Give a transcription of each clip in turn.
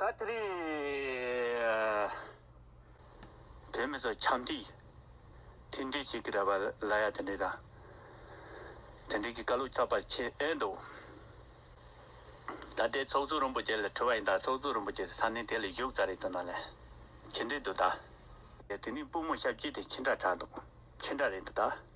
ད་དེ་རིང་བོད་མི་ཚོ་ཁྱམས་འདྲི་དེ་འདྲི་བྱེད་ཀྱི་རེད་བ་ལ་ཡ་དེ་འདྲི་དང་དེ་འདྲི་གི་བཀའ་ལུགས་ཚགས་པར་ཁྱེར་ཨེ་འདུག་ད་ལྟའི་ཚོགས་གཙོ་རིན་པོ་ཆེ་ལ་དྲི་བ་ཡིན་ད་ཚོགས་གཙོ་རིན་པོ་ཆེ་ས་ནས་དེ་ལ་བཞུགས་ཙ་རེད་དུ་ན་ལེ་ཁྱེད་འདྲི་འདུག་ད། དེ་ནས་སྤུ་མོ་ཞབས་སྐྱིད་དེ་ཁྱི་འདྲ་གྲགས་འདུག་ཁྱི་འདྲ་རེད་འདུག་ད།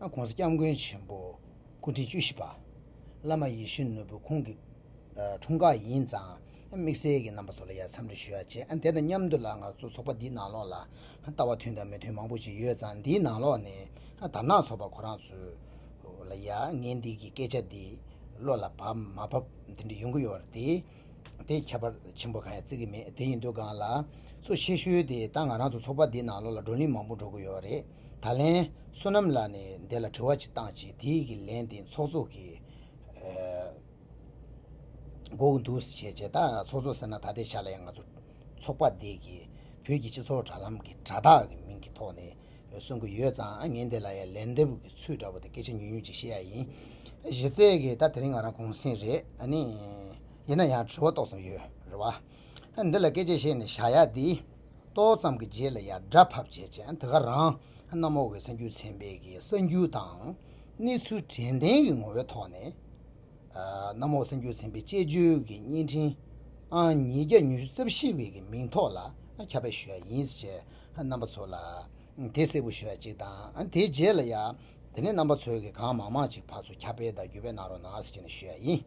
ྋགོང་ས ྋསྐྱབས་མགོན་ཆེན་པོ་སྐུ་ཕྲེང་བཅུ་བཞི་པ། བླ་མ་ཡེ་ཤུ་ནོར་བུ་ཁོང་གི་འཁྲུངས་སྐར་ཡིན་ཙང་དམིགས་བསལ་གྱིས་རྣམ་པ་ཚོ་ལ་ཡར་འཚམས་འདྲི་ཞུ་ཡ་བྱས། དེ་དང་མཉམ་དུ་ལ་ང་ཚོ་ཚོགས་པ་འདིའི་ནང་ལོགས་ལ་ལྟ་བ་མཐུན་དང་མི་མཐུན་མང་པོ་ཞིག་ཡོད་ཙང་འདིའི་ནང་ལོགས་ནས་དར་ནག་ཚོགས་པ་ཁོ་རང་ཚོའི་ལ་ཡ་ངའི་འདི་གི་སྐད་ཆ་འདི་བློ་ལ་བབ་མ་བབ་དེ་འདྲ་ཡོང་གི་ཡོད་རེད་དེ། དེ་ཁྱད་པར་ཆེན་པོ་གང་ཡང་བརྩི་གི་མེད་དེ་ཡིན་དུས་སྒང་ལ། ཚོ་ཆེ་ཤོས་དེ་དང་ང་རང་ཚོ་ཚོགས་པ་འདིའི་ནང་ལོགས་ལ་བགྲོ་གླིང་མང་པོ་འགྲོ་གི་ཡོད་རེད། ད་ལན། བསོད་ནམས་ལགས་ནས་འདི་ལ་དྲི་བ་གཅིག་བཏང་རྗེས་དེའི་གི་ལན་དེ་ཚོགས་གཙོ་གིས་མགོ་བོ་འདུག་ཟེར་བྱས་ད་ཚོགས་གཙོ་ཟེར་ན་ད་ལྟའི་ཆ་ལ་ཡང་ང་ཚོ་ཚོགས་པ་འདི་གི་བོད་ཀྱི་སྤྱི་ཚོགས་དྲ་ལམ་གི་དྲ་བདག་གི་མིང་གི་ཐོག་ནས་གསུང་གི་ཡོད་ཙང་ངས་འདི་ལ་ཡང་ལན་འདེབས་གི་ཚུལ་འདྲ་བོ་དང་སྐད་ཆ་ཉུང་ཉུང་གཅིག་བཤད་ཡ་ཡིན། གཞི་རྩའི་གི་ད་དེ་རིང་ང་རང་གུང་སེང་རེད་ཨ་ནི། ཡིན་ན་ཡང་དྲི་བ་ཏོག་ཙམ་ཡོད་རེད་བ། འདི་ལ་སྐད་ཅིག་ཤེས་ནས་བཞག་ཡག་འདི། ཏོག་ཙམ་གྱི་རྗེས་ལ་ཡང་སྒྲ་ཕབ་བྱས་བྱས་འདི་ག་རང། གནམ་འོག་གི་སེམས་རྒྱུད་ཚན་པས་ཀྱི་གསར་འགྱུར་དང། གནས་ཚུལ་དྲན་རྟེན་གྱི་ངོ་བོའི་ཐོག་ནས། གནམ་འོག་སེམས་རྒྱུད་ཚན་པའི་དཔྱད་བརྗོད་ཀྱི་བརྙན་འཕྲིན། ཨང་ཉིས་བརྒྱ་ཉི་ཤུ་རྩ་བཞི་བའི་ཀྱི་མིང་ཐོག་ལ་ཁྱབ་པ་ཞུ་ཡག་ཡིན་ཟེར་བྱས་རྣམ་པ་ཚོ་ལ། དེ་གསལ་པོ་ཞུ་ཡག་ཅིག་དང་དེའི་རྗེས་ལ་ཡང། དེ་ནས་རྣམ་པ་ཚོས་ཀྱི་གང་མང་མང་ཅིག་ཕར་ཚུར་ཁྱབ་སྤེལ་དང་བརྒྱུད་སྤེལ་གནང་རོགས་གནང་ཟེར་བྱས་ནས་ཞུ་ཡག་ཡིན།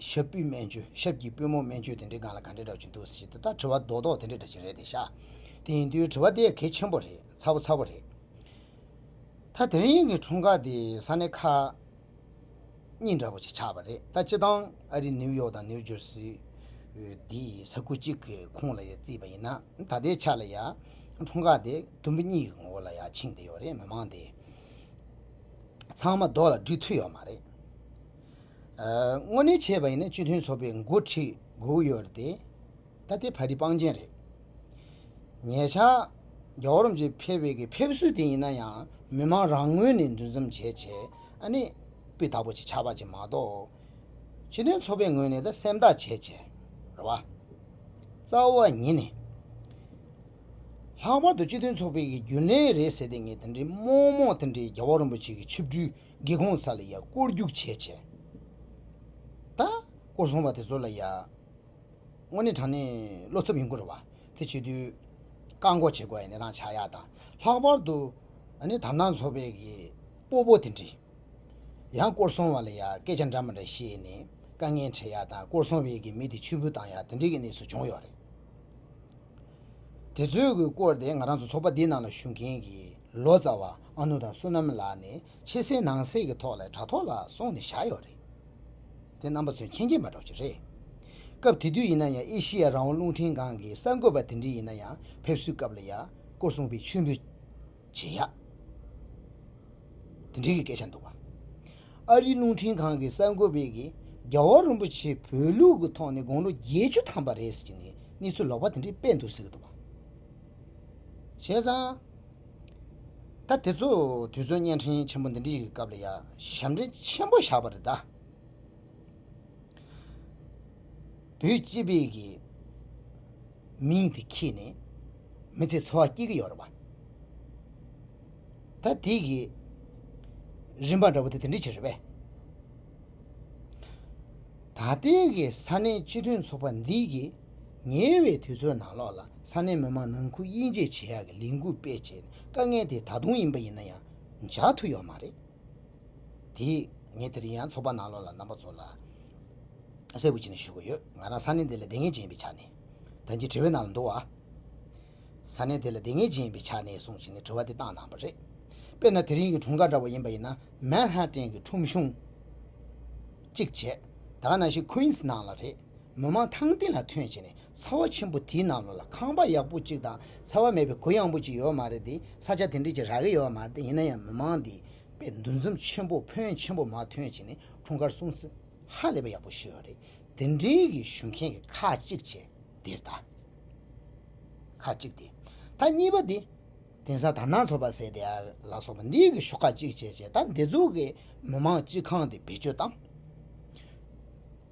ཞབས་སྤུས་སྨན་བཅོས་ཞབས་ཀྱི་པུས་མོ་སྨན་བཅོས་དེ་འདྲའི་སྒང་ལ་ག་འདྲའི་འདྲ་བྱུང་འདུག་ཟེར་གྱི་ད་ལྟ་དྲི་བ་རྡོག་རྡོག་དེ་འདྲའི་འདྲ་བྱེད་རེད་དེ་ཤ་དེ་ཡིན་དུས་དྲི་བ་དེ་གལ་ཆེན་པོ་རེད་ཚ་བོ་ཚ་བོ་རེད། ད་དེ་རིང་གི་འཁྲུངས་སྐར་དེ་ས་གནས་ཁག་གཉིས་འདྲ་བོ་ཞིག་ཆགས་པ་རེད་ད་སྤྱི་དང་ཨ་རི་ནིའུ་ཡོག་དང་ནིའུ་ཇོར་སི་དེ་ས་ཁུལ་གཅིག་གི་ཁོངས་ལ་ཡང་བརྩིས་པ་ཡིན་ན་ད་ལྟའི་ཆ་ལ་ཡང་འཁྲུངས་སྐར་དེ་དུམ་བུ་གཉིས་ཀྱི་ངོ་བོ་ལ་ཡང་ཕྱིན་བསྡད་ཡོད་རེད་མི་མང་དེ་ཚང་མ་རྡོག་ལ་འགྲིག་ཐུབ་ཡོད་མ་རེད། དངོས་གནས་བྱས་པ་ཡིན་ན་སྤྱི་མཐུན་ཚོགས་པའི་འགོ་ཁྲིད་དགོས་ཡོད་རེད་དེ། ད་དེ་ཕ་རི་པང་ཅན་རེད། ཉེ་ཆར། རྒྱ་བོད་རམ་ཅེ་ཕེ་བེ་གི་ཕེབས་བསུ་དེ་ཡིན་ན་ཡང་མི་མང་རང་ངོས་ནས་འདུ་འཛོམས་བྱས་བྱས་ཨ་ནི། སྤུས་དག་པོ་ཅིག་ཆགས་པ་ཅིག་མ་གཏོགས། སྤྱི་མཐུན་ཚོགས་པའི་ངོས་ནས་ད་སེམས་ཐག་བཅད་བཅད་རེད་བ། རྩ་བ་ཉིད་ནས། ལྷག་པར་དུ་སྤྱི་མཐུན་ཚོགས་པའི་རྒྱུན་ལས་རེད་ཟེར་དེ་ངས་དེ་འདྲའི་རྨོངས་རྨོངས་དེ་འདྲའི་རྒྱ་བོད་རིན་པོ་ཆེ་གི་ཆིབས་བསྒྲུལ་སྒེ་གོང་ས་ལ་ཡང་སྐོར་རྒྱུག་བྱས་བྱས། ད། སྐོར་སོང་བ་དེ་ཚོ་ལ་ཡང། དངོས་གནས་དྲང་གནས་བློ་འཚབ་ཡོང་གི་རེད་བ། དེ་བྱེད་དུས། བཀག་འགོག་བྱེད་དགོས་པའི་གནས་སྟངས་ཆགས་ཡག་དང། ལྷག་པར་དུ། ནི་དར་ནག་ཚོགས་པའི་གི། སྤོ་བོ་དེ་འདྲས། ཡང་སྐོར་སོང་བ་ལ་ཡང་སྐད་ཆ་འདྲ་མ་འདྲ་བཤད་ནས། དཀའ་ངལ་འཕྲད་ཡག་དང་སྐོར་སོང་བའི་གི་མི་དེ་ཕྱིར་འབུད་བཏང་ཡག་དེ་འདྲས་གི་གནས་ཚུལ་བྱུང་ཡོད་རེད། དེ་ཚོའི་གི་སྐོར་དེ་ང་རང་ཚོ་ཚོགས་པ་འདིའི་ནང་ལ་ཞུགས་མཁན་གི་ལོ་ཙཱ་བ། ཨ་ནུ་དང་བསོད་ནམས་ལགས་ནི་ཕྱི་གསལ་ནང་གསལ་གྱི་ཐོག་ལས་དྲ་ཐོག་ལ་སོང་ནས་བཞག་ཡོད་རེད། དེ་རྣམ་པ་ཚོའི་མཁྱེན་རྒྱ་མ་སྒྲོག་ཅིག་རེད། སྐབས་དེ་དུས་ཡིན་ན་ཡང་ཨེ་ཤི་ཡ་རང་དབང་རླུང་འཕྲིན་ཁང་གི་གསར་འགོད་པ་དེ་འདྲི་ཡིན་ན་ཡང་ཕེབས་བསུའི་སྐབས་ལ་ཡ་སྐོར་གསུངས་པའི་མཆོད་འབུལ་བྱེད་ཡ་དེ་འདྲི་གི་སྐད་ཆ་འདུག་བ། ཨ་རིའི་རླུང་འཕྲིན་ཁང་གི་གསར་འགོད་པས་གིས་རྒྱལ་བ་རིན་པོ་ཆེ་བོད་ལུགས་ཀྱི་ཐོག་ནས་དགུང་ལོ་བརྒྱད་ཅུ་ཐམ་པ་རེད་ཟེར་གྱི་ནས་གནས་ཚུལ་ལོག་པ་དེ་འདྲི་སྤེལ་འདུག་ཟེར་གྱི་འདུག་བ། བྱས་ཙང། ད་དེ་ཚོ་དུས་ཚོད་བརྙན་འཕྲིན་ཆེན་པོ་འདི་འདྲི་ཡི་སྐབས་ལ་ཡ་ཞབས་འདྲེན་ཆེན་པོ་བཞག་པ་རེད་ད། བོད་སྤྱི་བེ་གི་མིང་དེ་ཁྱེད་ནས་མི་ཚེ་འཚོ་བ་སྐྱེལ་གི་ཡོད་རེད་བ། ད་དེ་གི་རིན་པ་འདྲ་པོ་དེ་དེ་འདྲི་བྱེད་རེད་བས། ད་ལྟའི་གི་ས་གནས་སྤྱི་མཐུན་ཚོགས་པ་འདི་གི། ཉེ་བའི་དུས་ཚོད་ནང་ལོགས་ལ་ས་གནས་མི་མང་ནང་ཁུལ་དབྱེ་འབྱེད་བྱེད་ཡག་གི་ལས་འགུལ་སྤེལ་ཆེད་དཀའ་ངལ་དེ་ད་དུང་ཡིན་པ་ཡིན་ན་ཡང་འཇགས་ཐུབ་ཡོད་མ་རེད། དེ་ངས་དེ་རིང་ཡང་ཚོགས་པ་ནང་ལོགས་ལ་རྣམ་པ་ཚོ་ལ་གསལ་པོ་བྱས་ནས་ཞུ་གི་ཡོད་ང་རང་ས་གནས་དེ་ལ་དེ་ངས་བྱེད་ཡིན་པའི་ཆ་ནས། ད་འདི་དྲི་བའི་ནང་ལ་འདུག་ཨ། ས་གནས་དེ་ལ་དེ་ངས་བྱེད་ཡིན་པའི་ཆ་ནས་གསུངས་བྱས་ནས་དྲི་བ་དེ་བཏང་གནང་བ་རེད། དཔེར་ན་དེ་རིང་གི་དྲུང་འགག་འདྲ་བོ་ཡིན་པ་ཡིན་ན Manhattan གི་ཁྲོམ་གཞུང་གཅིག་བྱས། ད་ང་ནང་བཞིན Queens ནང་ལ་རེད། མི་མང་ཐང་སྟེང་ལ་ཐོན་བྱས་ནས་ཚ་བ་ཆེན་པོ་དེའི་ནང་ལོགས་ལ་ཁང་པ་ཡག་པོ་གཅིག་དང་ཚ་བ་མེད་པའི་གོས་ཡངས་པོ་གཅིག་ཡོད་མ་རེད་དེ་ས་ཆ་དེ་འདྲའི་ཆེ་རགས་ཀྱི་ཡོད་མ་རེད་ཡིན་ན་ཡང་མི་མང་དེ་པའི་འདུ་འཛོམས་ཆེན་པོ་ཕོན་ཆེན་པོ་མ་ཐོན་བྱས་ནས་འཁྲུངས་སྐར་སྲུང་བརྩི་ཧ་ལས་པ་ཡག་པོ་ཞུས་བ་རེད་དེ་འདྲའི་གི་ཞུ་མཁན་གི་ཁ་གཅིག་བྱས་དེར་ད། ཁ་གཅིག་དེ། ད་གཉིས་པ་དེ། གདན་ས་དར་ནག་ཚོ་པ་ཟེར་དེ་ལ་སོགས་པ་འདི་གི་ཤོག་ཁག་གཅིག་བྱས་རྗེས་ད་འདི་ཚོ་གི་མི་མང་སྤྱི་ཁང་དེ་བེད་སྤྱོད་བཏང།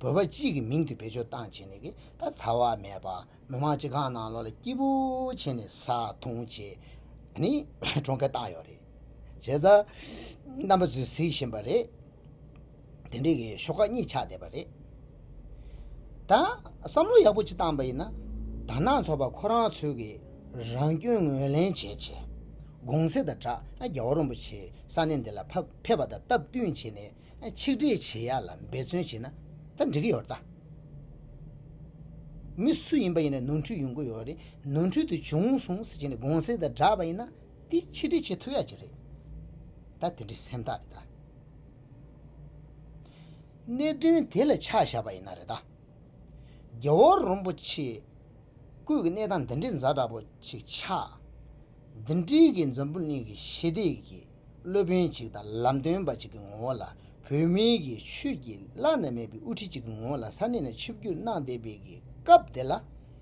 བོད་པ་སྤྱི་ཡི་མིང་དུ་བེད་སྤྱོད་བཏང་བྱས་ནས་ད་ཚ་བ་མེད་པ་མི་མང་སྤྱི་ཁང་ནང་ལོག་ལ་སྐྱིད་པོ་བྱས་ནས་ཟ་འཐུང་བྱེད་ནི་གྲོང་ཁྱེར་བཏང་ཡོད་རེད། བྱས་ཙང་རྣམ་པ་ཚོས་གཟིགས་བཞིན་པ་རེད། དེ་འདྲའི་གི་ཤོག་ཁག་གཉིས་ཆགས་བསྡད་པ་རེད། ད་བསམ་བློ་ཡག་པོ་གཅིག་བཏང་པ་ཡིན་ན། དར་ནག་ཚོགས་པ་ཁོ་རང་ཚོའི་གི་རང་སྐྱོན་ངོས་ལེན་བྱས་བྱས། དགོང་ཟས་དང་སྦྲགས་རྒྱལ་བ་རོན་པོ་ཆེའི་ས་གནས་འདི་ལ་ཕེབས་པ་དང་སྟབས་བསྟུན་བྱས་ནས་ཆིག་སྒྲིལ་བྱེད་ཡག་ལ་འབད་བརྩོན་བྱས་ན་ད་འགྲིག་གི་ཡོད་རེད་ད། མི་སུ་ཡིན་པ་ཡིན་རུང་ནོར་འཁྲུལ་ཡོང་གི་ཡོད་རེད་ནོར་འཁྲུལ་དེ་བྱུང་སོང་ཟེར་གྱི་ནས་དགོང་ཟས་དང་སྦྲགས་པ་ཡིན་ན་དེ་ཆིག་སྒྲིལ་བྱེད་ཐུབ་ཡག་གཅིག་རེད། ད་དེ་འདྲའི་སེམས་ཐག་རེད་ད། གནད་དོན་དེ་ལ་ཆ་བཞག་པ་ཡིན་ན་རེད་ད། རྒྱལ་བ་རོན་པོ་ཆེ་སྐུ་ཀྱི་གནས་སྟངས་འདི་འདྲའི་མཛའ་འདྲ་པོ་ཅིག་ཆགས། འདི་འདྲའི་གི་འཛམ་བུ་གླིང་གི་ཞི་བདེ་གི་སློབ་དཔོན་ཅིག་དང་ལམ་སྟོན་པ་ཅིག་གི་ངོ་བོ་ལ་བོད་མི་གི་ཆོས་ཀྱི་བླ་ན་མེད་པའི་དབུ་ཁྲིད་ཅིག་གི་ངོ་བོ་ལ་ས་གནས་ནས་ཆིབས་བསྒྱུར་གནང་བསྡད་པའི་གི་སྐབས་དེ་ལ།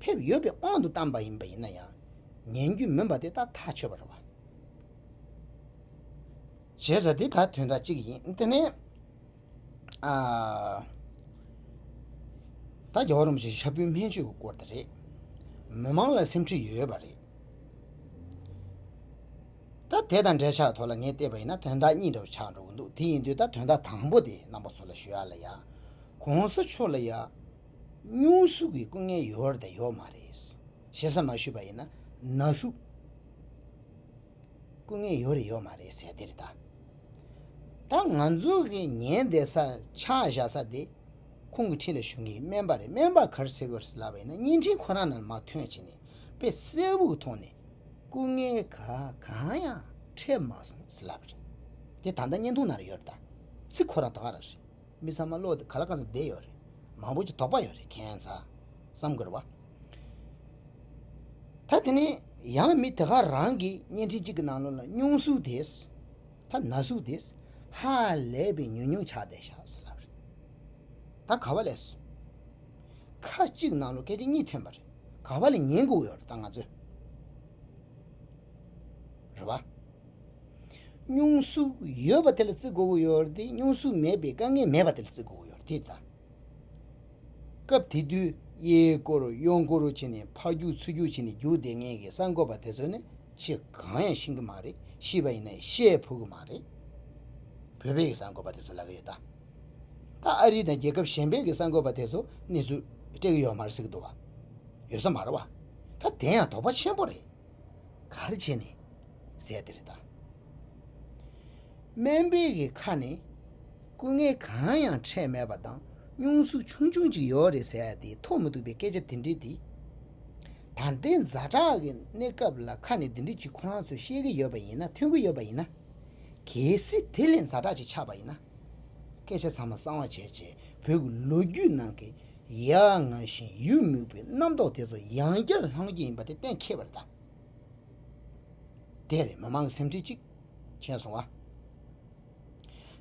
ཕེབས་ཡོད་པའི་དབང་དུ་བཏང་པ་ཡིན་པ་ཡིན་ན་ཡང་ཉན་རྒྱུ་མིན་པ་དེ་དག་ཐག་ཆོད་པ་རེད། བྱས་ཙང་འདི་དག་དོན་དག་གཅིག་ཡིན། དེ་ནི། ད་རྒྱ་བ་རོམ་བཞིན་ཤ་བུའི་སྨན་བཅོས་ཀྱི་སྐོར་དེ་རེད། མི་མང་ལ་སེམས་ཁྲིད་ཡོད་པ་རེད། ད་དེ་དང་འབྲེལ་ཆགས་ཐོག་ལ་ངས་བལྟས་པ་ཡིན་ན་དོན་དག་གཉིས་འདྲ་བོ་ཆགས་འགྲོ་གི་འདུག་དེ་ཡིན་དུས་ད་དོན་དག་དང་པོ་དེ་རྣམ་པ་ཚོ་ལ་ཞུ་ཡ་ལ་ཡ། གོང་ས་མཆོག་ལ་ཡ། སྙུང་གཟུགས་ཀྱི་སྐུ་ངལ་ཡོད་རེད་དང་ཡོད་མ་རེད། ཞེ་ས་མ་ཞུས་པ་ཡིན་ན་ན་ཟུག་སྐུ་ངལ་ཡོད་རེད་ཡོད་མ་རེད་ཟེར་དེར་ལྟ། ད་ང་ཚོ་གི་ཉན་བསྡད་ས་ཕྱག་བཞག་ས་དེ་ཁོང་གི་འཁྲིས་ལ་ཞུགས་མཁན་སྨན་པ་རེད་སྨན་པ་གར་སེ་གོར་སེ་ལབ་པ་ཡིན་ན་བརྙན་འཕྲིན་ཁོ་རང་ནང་མ་ཐོན་བྱས་ནས་དཔེ་གསལ་བོ་གི་ཐོག་ནས་སྐུ་ངལ་ག་གང་ཡང་འཕྲད་མ་སོང་ཟེར་ལབ་པ་རེད་དེ་ད་ལྟ་བརྙན་ཐུང་ནང་རེད་ཡོད་རེད་ད་ཚིག་ཁོ་རང་ད་ག་རང་རེད། མི་ཚང་མ་བློ་དེ་ག་ལ་གང་ས་བདེ་ཡོད་རེད། མང་པོ་ཅིག་དོགས་པ་ཡོད་རེད་མཁྱེན་ཚ། བསམ་དགོས་རེད་བ། ད་དེ་ནས་ཡང་མི་དེ་ག་རང་གི་བརྙན་འཕྲིན་གཅིག་གི་ནང་ལོ་ལ་སྙུང་གཟུགས་དེས། ད་ན་གཟུགས་དེས། ཧ་ལས་པའི་ཉུང་ཉུང་ཆགས་བསྡད་ཤག་ཟེར་ལབ་རེད། ད་ག་བ་ལས་སོ། ཁ་གཅིག་ནང་ལོ་སྐད་ཆ་གཉིས་ཐོན་པ་རེད་ག་བ་ལས་ཉན་དགོས་ཡོད་རེད་ད་ང་ཚོས། རེད་བ། སྙུང་གཟུགས་ཡོད་པ་དེ་ལ་བརྩི་དགོས་ཡོད་དེ་སྙུང་གཟུགས་མེད་པའི་དཀའ་ངལ་མེད་པ་དེ་ལ་བརྩི་དགོས་ཡོད་དེ། སྐབས་དེ་དུས་གཡས་བསྐོར་གཡོན་བསྐོར་བྱས་ནས་ཕར་རྒྱུག་ཚུར་རྒྱུག་བྱས་ནས་རྒྱུག་བསྡད་ངེས་ཀྱི་གསར་འགོད་པ་དེ་ཚོ་ནི་ཤི་གང་ཡང་ཤི་གི་མ་རེད་ཤི་བ་ཡིན་ན་ཤེས་ཕོད་ཀྱི་མ་རེད། བོད་པའི་གསར་འགོད་པ་དེ་ཚོ་ལབ་ཀྱི་ཡོད་ད། ད་ཨ་རི་དང་རྒྱལ་ཁབ་གཞན་པའི་གསར་འགོད་པ་དེ་ཚོ་གནས་ཚུལ་སྤྲད་ཀྱི་ཡོད་མ་རེད་ཟེར་གྱི་འདུག་བ། ཡོད་ས་མ་རེད་བ། ད་དེ་ཡང་དོགས་པ་ཆེན་པོ་རེད། གར་བྱས་ནས་ཟས་དེ་རེ་ད། སྨན་དཔེ་གི་ཁ་ནས་སྐུ་ངལ་གང་ཡང་འཕྲད་མེད་པ་དང་སྙུང་གཟུགས་ཆུང་ཆུང་ཅིག་ཡོད་རེད་ཟས་དེ་ཐོག་མི་འདུག་པའི་སྐད་ཆ་དེ་འདྲི་དེ། ད་ལྟའི་མཛའ་གྲགས་ཀྱི་གནས་སྐབས་ལ་ཁ་ནས་འདི་འདྲི་གཅིག་ཁོ་རང་ཚོས་ཤེས་ཀྱི་ཡོད་པ་ཡིན་ན་ཐོས་ཀྱི་ཡོད་པ་ཡིན་ན། གལ་སྲིད་དེ་ལས་མཛའ་གྲགས་ཅིག་ཆགས་པ་ཡིན་ན། སྐད་ཆ་ཚང་མ་གསང་བ་བྱས་རྗེས་བོད་ཀྱི་ལོ་རྒྱུས་ནང་གི་ཡང་ངང་བཞིན་ཡུལ་མིག་པའི་རྣམ་རྟོག་དེ་ཚོ་ཡང་བསྐྱར་ལྷང་ངེ་ཡིན་པ་དེ་གཏན་འཁེལ་བ་རེད་དམ། དེ་རེད་མི་མང་སེམས་ཁྲལ་ཅིག་བྱས་སོང་བ།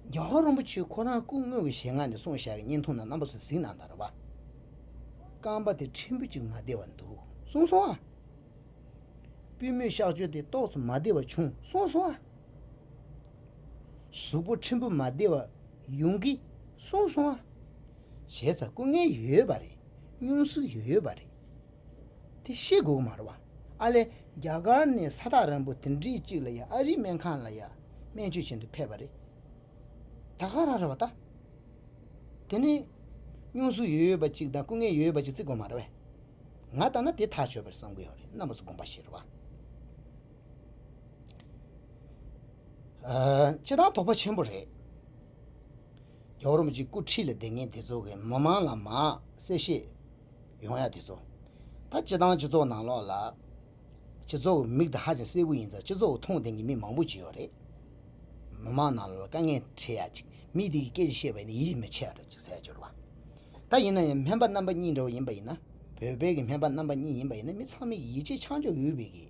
རྒྱ་གར་རིན་པོ་ཆེ་ཁོ་རང་སྐུ་དངོས་ཀྱི་ཞལ་སྔ་ནས་སོང་ཞག་གི་བརྙན་ཐུང་ནང་རྣམ་པ་ཚོ་གཟིགས་གནང་དང་རེད་བ། རྐང་པ་དེ་ཕྲན་བུ་ཅིག་མ་བདེ་བ་འདུག་གསུངས་སོང་བ། པུས་མོའི་གཤག་བཅོས་དེ་ཏོག་ཙམ་མ་བདེ་བ་བྱུང་གསུངས་སོང་བ། གཟུགས་པོ་ཕྲན་བུ་མ་བདེ་བ། ཡོང་གི་སོང་སོང་ཨ། བྱས་ཙང་སྐུ་ངལ་ཡོད་པ་རེད་སྙུང་གཟུགས་ཡོད་པ་རེད་དེ་ཤེས་དགོས་མ་རེད་བ། ཨ་ལས་རྒྱ་གར་ནས་ས་ཐག་རིང་པོ་དེ་འདྲི་གཅིག་ལ་ཡང་ཨ་རིའི་སྨན་ཁང་ལ་ཡང་སྨན་བཅོས་བྱེད་དུ་ཕེབས་པ་རེད། ད་ག་རང་རེད་བ་ད། དེ་ནས་སྙུང་གཟུགས་ཡོད་པ་གཅིག་དང་སྐུ་ངལ་ཡོད་པ་གཅིག་བརྩི་དགོས་མ་རེད་བ། ང་ལྟར་ན་དེ་ཐག་ཆོད་པ་རེད་བསམ་གི་ཡོད་རེད་གནམ་ས་གོམ་པ་བཞི་རེད་བ། སྤྱི་བཏང་དོགས་པ་ཆེན་པོ་རེད། རྒྱ་རོམ་གྱི་སྐུ་ཁྲིད་ལ་བདེ་ངན་དེ་ཚོ་གི་མི་མང་ལ་མ་གསལ་བཤད་ཡོང་ཡ་དེ་ཚོ། ད་སྤྱི་བཏང་སྤྱི་ཚོགས་ནང་ལོག་ལ། སྤྱི་ཚོགས་ཀྱི་མིག་དེ་ཧ་ཅང་གསལ་བོ་ཡིན་ཙང་སྤྱི་ཚོགས་ཀྱི་མཐོང་ལྡན་གྱི་མི་མང་པོ་བྱས་ཡོད་རེད། མི་མང་ནང་ལོག་ལ་དཀའ་ངལ་འཕྲད་ཡ་ཅིག་མི་དེ་གི་སྐད་ཆ་བཤད་པ་ཡིན་ན་ཡིད་མི་ཆེས་ར་ཅིག་ཟས་སྦྱོར་བ། ད་ཡིན་ན་ཡང་སྨན་པ་རྣམ་པ་གཉིས་འདྲ་བོ་ཡིན་པ་ཡིན་ན་བོད་པའི་གི་སྨན་པ་རྣམ་པ་གཉིས་ཡིན་པ་ཡིན་ན་མི་ཚང་མའི་གི་ཡིད་ཆེས་ཆང་འཇོག་ཡོད་པའི་གི།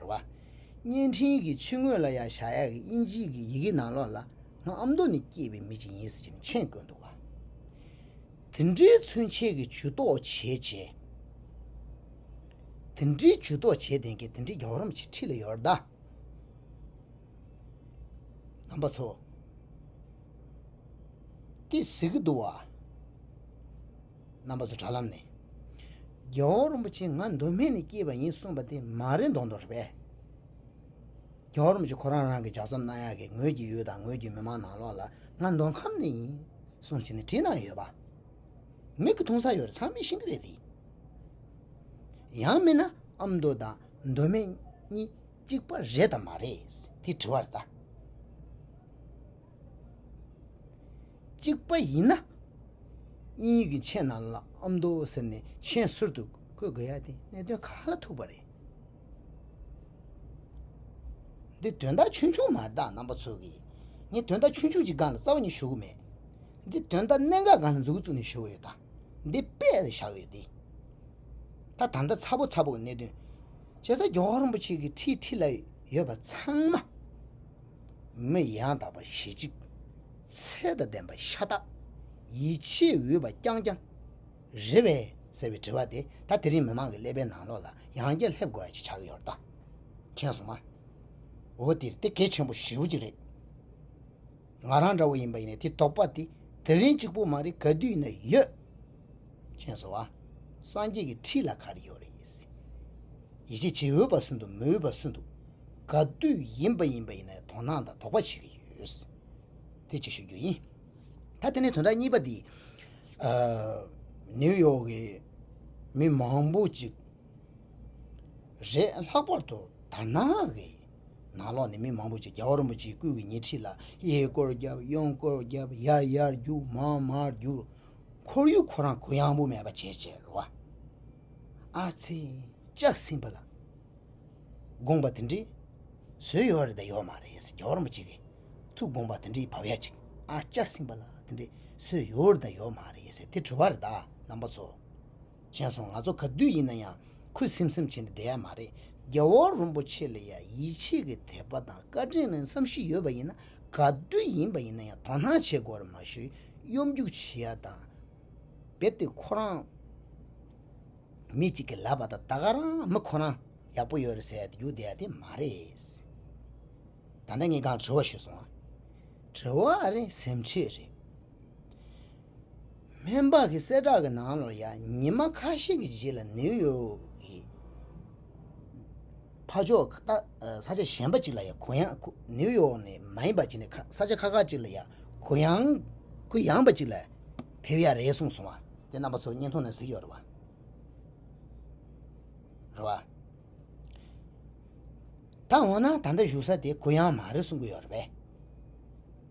རེད། བརྙན་འཕྲིན་གྱི་ཕྱི་ངོས་ལ་ཡང་ཞྭ་ཡག་གི་དབྱིན་ཇིའི་གི་ཡི་གེ་ནང་ལོགས་ལ་ང་ཨ་མདོ་ནས་སྐྱེས་པའི་མི་ཅིག་ཡིན་ཟེར་གྱི་མཆན་བཀོད་འདུག་བ། དེ་འདྲའི་མཚོན་བྱེད་ཀྱི་ཇུས་གཏོགས་བྱས་རྗེས། དེ་འདྲའི་ཇུས་གཏོགས་བྱས་དེང་གི་དེ་འདྲའི་རྒྱ་གར་མ་ཆིག་ཁྲི་ལ་ཡོད་རེད་ད། ནང་པ་ཚོ། ཏི་ཟེར་གྱི་འདུག་བ། རྣམ་པ་ཚོ་དྲ་ལམ་ནས། རྒྱལ་བ་རིན་པོ་ཆེ་ང་མདོ་སྨད་ནས་སྐྱེས་པ་ཡིན་གསུངས་པ་དེ་མ་རེད་མདོག་མདོག་རེད་པས། རྒྱལ་བ་རིན་པོ་ཆེ་ཁོ་རང་རང་གི་ལྗགས་རྩོམ་གནང་ཡག་གི་ངོས་ཀྱི་ཡུལ་དང་ངོས་ཀྱི་མི་མང་ནང་ལོག་ལ་ང་མདོ་ཁམས་ནས་ཡིན་གསུངས་བྱས་ནས་བྲིས་གནང་ཡོད་པ། མིག་གི་མཐོང་ས་ཡོད་རེད་ཚང་མས་ཤེས་ཀྱི་རེད་དེ། ཡང་མིན་ན་ཨ་མདོ་དང་མདོ་སྨད་གཉིས་གཅིག་པ་རེད་དམ་མ་རེད་དེ་དྲི་བ་རེད་ད། གཅིག་པ་ཡིན་ན་དབྱིན་ཡིག་གི་མཆན་ནང་ལ་ཨ་མདོ་ཟེར་ནས་མཆན་གསར་དུ་བཀོད་དགོས་ཡ་དེ་གནད་དོན་ག་ལ་ཐུག་པ་རེད། འདི་དོན་དག་ཆུང་ཆུང་མ་གཏགས་རྣམ་པ་ཚོ་གིས་ངས་དོན་དག་ཆུང་ཆུང་གཅིག་སྒང་ལ་རྩ་བ་ཉིད་ཞུ་གི་མེད། འདི་དོན་དག་གནད་འགག་སྒང་ལ་འཛུགས་འཛུགས་ནས་ཞུ་གི་ཡོད་ད། འདི་དཔེ་ལ་བཞག་ཡོད་དེ། ད་ད་ལྟ་ཚ་པོ་ཚ་པོ་གི་གནད་དོན། བྱས་ཙང་རྒྱལ་བ་རིན་པོ་ཆེ་གི་ཁྲི་ཁྲི་ལ་ཡོད་པ་ཚང་མ། མི་ཡང་དག་པ་ཞེ་གཅིག། ཚད་དང་ལྡན་པ་ཤ་སྟག། ཡིད་ཆེས་འོས་པ་རྐྱང་རྐྱང། རེད་བས། ཟེར་བའི་དྲི་བ་དེ་ད་དེ་རིང་མི་མང་གི་ཀླད་པའི་ནང་ལོགས་ལ་ཡང་བསྐྱར་སླེབས་དགོས་ཡ་ཅིག་ཆགས་ཀྱི་ཡོད་རེད་ད། མཁྱེན་སོང་ང། འོ་དེ་དེ་གལ་ཆེན་པོ་ཞེ་བོ་ཅིག་རེད། ང་རང་འདྲ་བོ་ཡིན་པ་ཡིན་ན་དེ་དོགས་པ་དེ་དེ་རིང་གཅིག་པོ་མ་རེད་ག་དུས་ན་ཡོད། ཅེས་སོ། སངས་རྒྱས་ཀྱི་ཁྲི་ལ་གར་ཡོད་རེ་ཡིས། ཡིད་ཆེས་བྱེད་འོས་པ་སུ་འདུག་མི་འོས་པ་སུ་འདུག། ག་དུས་ཡིན་པ་ཡིན་པ་ཡིན་ན་དོ་སྣང་དང་དོགས་པ་བྱེད་ཀྱི་ཡོད། དེ་གཅིག་ཤོད་རྒྱུ་ཡིན། ད་དེ་ནས་དོན་དག་གཉིས་པ་འདི། ནིའུ་ཡོག་གི་མི་མང་པོ་ཅིག་རེད། ལྷག་པར་དུ་དར་ནག་གི་ནང་ལོགས་ནས་མི་མང་པོ་ཅིག་རྒྱ་གར་རིན་པོ་ཆེའི་སྐུ་གི་ཉེ་འཁྲིས་ལ་གཡས་སྐོར་བརྒྱབ་གཡོན་སྐོར་བརྒྱབ་ཡར་ཡར་རྒྱུག་མར་མར་རྒྱུག་ཁོར་ཡུག་ཁོ་རང་གུ་ཡངས་པོ་མེད་པ་བྱས་བྱས་རེད་བ། ཨ་ཙི། ལྕགས་སྲིན་པོ་ལགས། དགོངས་པ་དེ་འདྲའི། བཟོས་ཡོད་རེད་དཱ་ཡོད་མ་རེད་ཟེར་རྒྱ་བོར་མོ་ཅིག་གིས། ཐུགས་དགོངས་པ་དེ་འདྲའི་བབ་ཡ་ཅིག་ཨ་ལྕགས་སྲིན་པོ་ལགས་དེ་འདྲའི་བཟོས་ཡོད་རེད་དཱ་ཡོད་མ་རེད་ཟེར་དེ་དྲི་བ་རེད་དཱ་རྣམ་པ་ཚོ། མཁྱེན་སོང་ང་ཚོ་ག་དུས་ཡིན་ན་ཡང་ཁུ་སིམ་སིམ་བྱས་ནས་བསྡད་ཡ་མ་རེད་རྒྱལ་བ་རོན་པོ་ཆེ་ལ་ཡང་ཡིད་ཆེས་ཀྱི་དད་པ་དང་བཀའ་དྲིན་ལན་བསམ་ཤུགས་ཡོད་པ་ཡིན་ན་ག་དུས་ཡིན་པ་ཡིན་ན་ཡང་དོ་སྣང་བྱེད་དགོས་རེད་མ་ཤུ་གཡོ་འགུག་བྱེད་ཡ་དང་རྦད་དེ་ཁོ་རང་མི་གཅིག་གི་ལབ་པ་དང་ད་ག་རང་མི་ཁོ་རང་ཡག་པོ་ཡོད་རེད་ཟེར་དུ་རྒྱུག་བསྡད་ཡ་དེ་མ་རེད། ད་ལྟ་ངས་གང་དྲི་བ་ཞུས་སོང་ང་དྲི་བ་རེད་སེམས་ཁྲེལ་རེད། སྨན་པ་གི་གསལ་བསྒྲགས་ཀྱི་ནང་ལོར་ཡང་ཉི་མ་ཁ་ཤས་ཀྱི་རྗེས་ལ་ནེའུ་ཡོག་གི་ཕ་ཕྱོགས་ད་ས་ཆ་གཞན་པ་ཅིག་ལ་ཡང་གུ་ཡངས་ཁུ་ནེའུ་ཡོག་ནི་མ་ཡིན་པ་ཅིག་ནས་ས་ཆ་ཁ་ཁ་ཅིག་ལ་ཡང་གུ་ཡངས་གུ་ཡངས་པ་ཅིག་ལ་ཕེབས་ཡ་རེད་གསུངས་སོང་བ་དེ་རྣམ་པ་ཚོ་བརྙན་ཐུང་ནང་གཟིགས་ཡོད་རེད་བ། ད་འོ་ན་ད་ལྟ་བཞུགས་ས་དེ་གུ་ཡངས་མ་རེད་གསུང་གི་ཡོད་རེད་བས།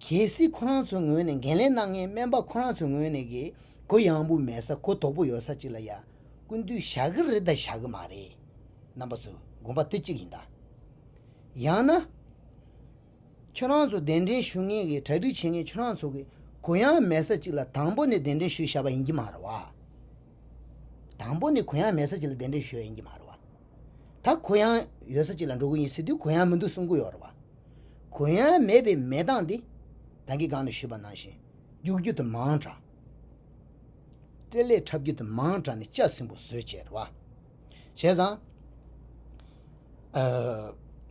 གལ་སྲིད་ཁོ་རང་ཚོའི་ངོས་ནས་འགན་ལེན་གནང་མཁན་སྨན་པ་ཁོ་རང་ཚོའི་ངོས་ནས་གི་གུ་ཡངས་པོ་མེད་ས་གུ་དོག་པོ་ཡོད་ས་ཅིག་ལ་ཡ་ཀུན་དུ་བཞག་གི་རེད་ད་བཞག་གི་མ་རེད་རྣམ་པ་ཚོས་དགོངས་པ་དེ་གཅིག་ཡིན་ད། ཡང་ན། ཁྱོད་རང་ཚོ་གདན་འདྲེན་ཞུ་མཁན་གྱི་གྲ་སྒྲིག་བྱེད་མཁན་ཁྱོད་རང་ཚོ་གི་གུ་ཡངས་མེད་ས་ཅིག་ལ་དང་པོ་ནས་གདན་འདྲེན་ཞུས་བཞག་པ་ཡིན་གྱི་མ་རེད་བ། དང་པོ་ནས་གུ་ཡངས་མེད་ས་ཅིག་ལ་གདན་འདྲེན་ཞུས་ཡིན་གྱི་མ་རེད་བ། ད་གུ་ཡངས་ཡོད་ས་གཅིག་ལ་འགྲོ་གི་ཡིན་ཟེར་དུས་གུ་ཡངས་མི་འདུག་གསུང་གི་ཡོད་རེད་བ། གུ་ཡངས་མེད་པའི་མེད་སྟངས་འདི། དང་གི་སྒང་ནས་ཞུས་པ་ནང་བཞིན། རྒྱུགས་རྒྱུ་དེ་མང་དྲགས། སྤྲེལ་ལད་འཁྲབ་རྒྱུ་དེ་མང་དྲགས་ནས་ལྕགས་སྲིན་པོ་བཟོས་བྱས་རེད་བ། བྱས་ཙང།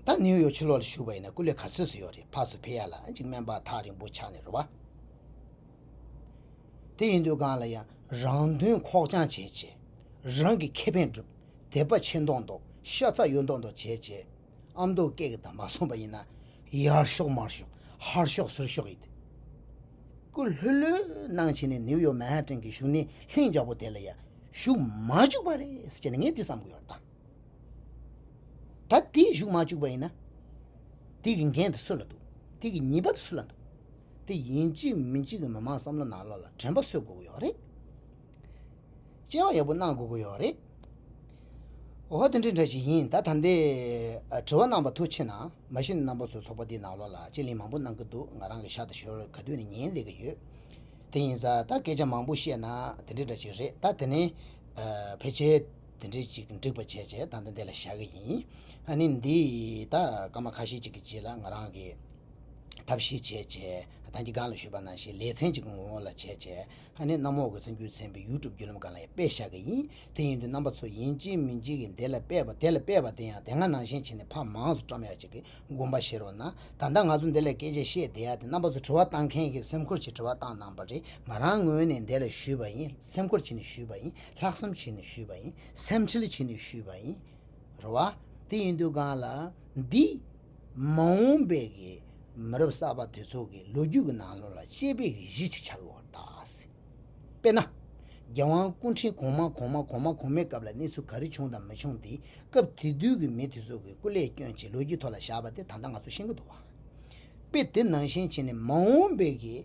ད་ནིའུ་ཡོག་ཕྱི་ལོག་ལ་ཞུགས་པ་ཡིན་ན་སྐུ་ལས་ག་ཚོད་སུ་ཡོད་རེད་ཕག་ཚོ་ཕེ་ཡ་ལ་གཅིག་སྨན་པ་ཐག་རིང་པོ་ཆགས་ནས་རེད་བ། དེ་ཡིན་དུས་སྒང་ལ་ཡང་རང་དོན་ཁོག་བཅངས་བྱས་བྱས་རང་གི་ཁེ་ཕན་བསྒྲུབ། དད་པ་ཆེ་མདོག་མདོག་ཤ་ཚ་གཡོ་མདོག་མདོག་བྱས་བྱས། ཨ་མདོ་སྐད་ཀྱི་དང་མ་སོང་བ་ཡིན་ན། ཡར་ཤོག་མར་ཤོག་ཧར་ཤོག་ཟུར་ཤོག་ཡིན། སྐུ་ལྷོད་ལྷོད་གནང་བྱས་ནས་ནིའུ་ཡོག་མན་ཧ་ཏན་གྱི་བཞུགས་གནས་ལྷིང་འཇགས་པོ་དེ་ལ་ཡང་བཞུགས་མ་བཅུག་པ་རེད་ཅེས་ངས་འདི་བསམ་གྱི་ཡོད། ད་དེ་བཞུགས་མ་བཅུག་པ་ཡིན་ན། དེ་གི་འགན་དེ་སུ་ལ་འདུག་དེ་གི་ཉེས་པ་དེ་སུ་ལ་འདུག་དེ་ཡིན་གཅིག་མིན་གཅིག་གི་མི་མང་བསམ་བློ་ནག་ལོག་ལ་དྲན་པ་སོས་དགོས་ཀྱི་ཡོད་རེད། དཔྱད་བར་ཡག་པོ་གནང་དགོས་ཀྱི་ཡོད་རེད། འོ་ཧོ་དེ་འདྲའི་འདྲ་ཞིག་ཡིན་ད་ད་ལྟའི་དྲི་བ་གནང་བ་ཐུགས་ཆེ་གནང་མ་གཞི་ནས་རྣམ་པ་ཚོའི་ཚོགས་པ་འདིའི་ནང་ལོགས་ལ་དཔྱད་གླེང་མང་པོ་གནང་གི་འདུག་ང་རང་གི་ཤག་ཏུ་ཞོར་ག་དུས་ནས་ཉན་སླེབས་ཀྱི་ཡོད། དེ་ཡིན་ས་ད་སྐད་ཆ་མང་པོ་བཤད་ན་དེ་འདྲའི་འདྲ་ཞིག་རེད་ད་དེ་ནས་ཕལ་ཆེར་དེ་འདྲའི་ཅིག་འགྲིག་པ་བྱས་རྗེས་ད་ལྟ་འདི་ལ་བཞག་གི་ཡིན། ཨ་ནི་འདི་ད་སྐར་མ་ཁ་ཤས་ཅིག་གི་རྗེས་ལ་ང་རང་གིས་ཐབས་ཤེས་བྱས་རྗེས་ད་ཀྱི་སྒང་ལ་བཞུད་པ་ན་ཞེས་ལེ་ཚན་ཅིག་གི་ངོ་བོ་ལ་བྱས་རྗེས། ད་ནི་གནམ་འོག་གི་སེམས་རྒྱུད་ཚན་པའི YouTube བརྒྱུད་ལམ་གང་ལ་ཡང་སྤེལ་བཞག་གི་ཡིན། དེ་ཡིན་དུས་རྣམ་པ་ཚོ་ཡིན་གཅིག་མིན་གཅིག་གིས་དེ་ལ་སྤེལ་བ་དེ་ལ་སྤེལ་བ་དེ་ཡང་དེ་སྔ་ནང་བཞིན་བྱས་ནས་ཕ་མང་སུ་བཀྲམ་ཡག་ཅིག་གི་དགོངས་པ་བཞེས་རོགས་གནང། ད་ལྟ་ང་ཚོ་འདི་ལ་སྐད་ཆ་བཤད་བསྡད་ཡག་དེ་རྣམ་པ་ཚོ་དྲི་བ་བཏང་མཁན་གྱི་སེམས་ཁུར་གྱིས་དྲི་བ་བཏང་གནང་བ་རེད་ང་རང་ངོས་ནས་འདི་ལ་ཞུས་པ་ཡིན་སེམས་ཁུར་གྱིས་ནས་ཞུས་པ་ཡིན་ལྷག་བསམ་གྱིས་ནས་ཞུས་པ་ཡིན་སེམས་ཁྲལ་གྱིས་ནས་ཞུས་པ་ཡིན། རེད་བ། དེ་ཡིན་དུས་གང་ལ། འདི། མ་འོངས་པའི་གི་མི་རབས་གསར་པ་དེ་ཚོ་གི་ལོ་རྒྱུས་ཀྱི་ནང་ལོ་ལ་དཔྱད་པའི་གི་གཞི་ཅིག་ཆགས་ཡོང་བར་བལྟ་སྲིད། དཔེར་ན། རྒྱལ་དབང་སྐུ་འཕྲེང་གོང་མ་གོང་མ་གོང་མ་གོང་མའི་སྐབས་ལ་གནས་ཚུལ་ག་རེ་བྱུང་དང་མི་བྱུང་དེ་སྐབས་དེ་དུས་ཀྱི་མི་དེ་ཚོ་གི་སྐུ་ལས་སྐྱོན་ཆེད་ལོ་རྒྱུས་ཐོག་ལ་བཞག་པ་དེ་ད་ལྟ་ང་ཚོ་ཤེས་ཀྱི་འདུག་བ། དཔེ་དེ་ནང་བཞིན་བྱས་ནས་མ་འོངས་པའི་གི་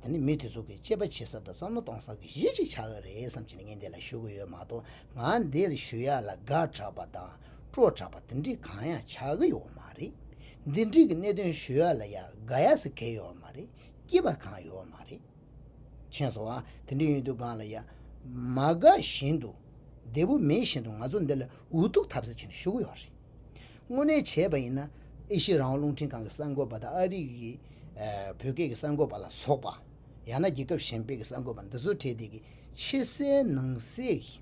ད་ནི་མི་དེ་ཚོ་གི་དཔྱད་པ་བྱེད་ས་དང་བསམ་བློ་གཏོང་སའི་གི་གཞི་ཅིག་ཆགས་ཀྱི་རེད་བསམ་བྱས་ནས་ངས་འདི་ལ་ཞུ་གི་ཡོད་མ་གཏོགས་ང་འདིར་ཞུ་ཡག་ལ་དགའ་དྲགས་པ་དང་སྤྲོ་དྲགས་པ་འདི་འདྲི་གང་ཡང་ཆ་གི་ཡོད་མ་རེད་འདི་འདྲི་གི་གནད་དོན་ཞུ་ཡ་ལ་ཡ་དགའ་ཡ་སི་གེ་ཡོད་མ་རེད་སྐྱིད་པ་གང་ཡོད་མ་རེད་མཁྱེན་སོང་ཨ་དེ་འདྲི་ཡོད་དུས་གང་ལ་ཡ་མ་དགའ་བཞིན་དུ་བདེ་པོ་མེད་བཞིན་དུ་ང་ཚོ་འདི་ལ་འུ་ཐུག་ཐབས་ཟད་བྱེད་ནས་ཞུ་གི་ཡོད་རེད་དངོས་གནས་བྱས་པ་ཡིན་ན་ཨེ་ཤི་རང་དབང་རླུང་འཕྲིན་ཁང་གི་གསར་འགོད་པ་དང་ཨ་རིག་གི་བོད་སྐད་ཀྱི་གསར་འགོད་པ་ལ་སོགས་པ་ཡང་ན་རྒྱལ་ཁབ་གཞན་པའི་གསར་འགོད་པ་འདི་ཚོ་གྲས་འདི་གི་ཕྱི་གསལ་ནང་གསལ་གྱི།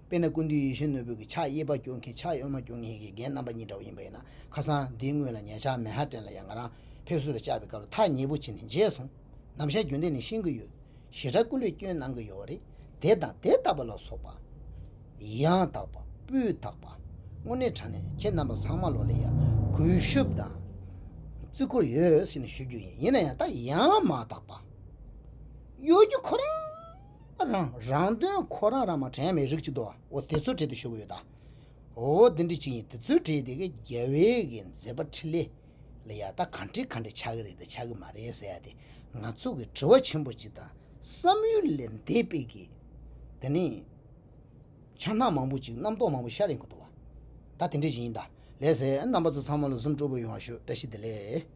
དཔེར་ན་ཀུན་འདུས་ཡེ་ཤེས་ནོར་བུ་གྱི་ཕྱག་གཡས་པ་བསྐྱོར་མཁན་ཕྱག་གཡོན་མ་བསྐྱོར་མཁན་གྱི་རྒན་རྣམ་པ་གཉིས་འདྲ་བོ་ཡིན་པ་ཡིན་ན་ཁ་སང་འདིའི་སྔོན་ལ་ཉལ་ཆག་མེ་ཧ་ཀྲན་ལ་ཡང་ང་རང་ཕེབས་བསུ་ལ་བཅར་བའི་སྐབས་ལ་ཐག་ཉེ་པོ་བྱིན་ནས་མཇལ་སོང། ནམ་ཞར་རྒྱུན་ལྡན་ནས་ཤེས་ཀྱི་ཡོད། ཞེ་དྲག་ཀུན་ལས་སྐྱོན་གནང་གི་ཡོད་རེད། དེ་དང་དེ་ལྟ་བུ་ལ་སོགས་པ། ཡང་དག་པ། སྤུས་དག་པ། དངོས་གནས་དྲང་གནས་ཁྱེད་རྣམ་པ་ཚང་མ་ལོ་ལེགས་ཡ། གུས་ཤུབ་དང། བརྩི་འཁོར་ཡོད་ཞེས་ཞུ་རྒྱུ་ཡིན། ཡིན་ན་ཡང་ད་ཡང་མ་དག་པ། གཡོ་སྒྱུ་ཁོ་རང། རང་རང་དོན་ཁོ་རང་རང་མ་དྲན་བའི་རིགས་གཅིག་འདུག་འོ་དེ་ཚོ་བྲིས་ཏེ་བཞུགས་ཡོད་ད། འོ་འདི་འདྲི་གཅིག་ཡིན་དེ་ཚོ་བྲིས་ཏེ་རྒྱ་བལ་གྱི་མཛེས་པ་ཁྲི་ལེ་ལ་ཡག་ད་གང་བྲིས་གང་བྲིས་ཆགས་ཀྱི་རེད་དང་ཆགས་ཀྱི་མ་རེད་ཟེར་ཡག་དེ་ང་ཚོ་གི་དྲི་བ་ཆེན་པོ་གཅིག་དང་བསམ་ཡུལ་ལས་འདས་དཔེ་གི་དེ་ནི་ཆ་སྣ་མང་པོ་ཅིག་རྣམ་རྟོག་མང་པོ་ཤར་ཡིན་གྱི་འདུག་ད་དེ་འདྲི་གཅིག་ཡིན་ད་ལས་ཟེར་རྣམ་པ་ཚོ་ཚང་མ་ལ Zoom སྤྲོ་པོ་ཡོང་བ་ཞུ་བཀྲ་ཤིས་བདེ་ལེགས།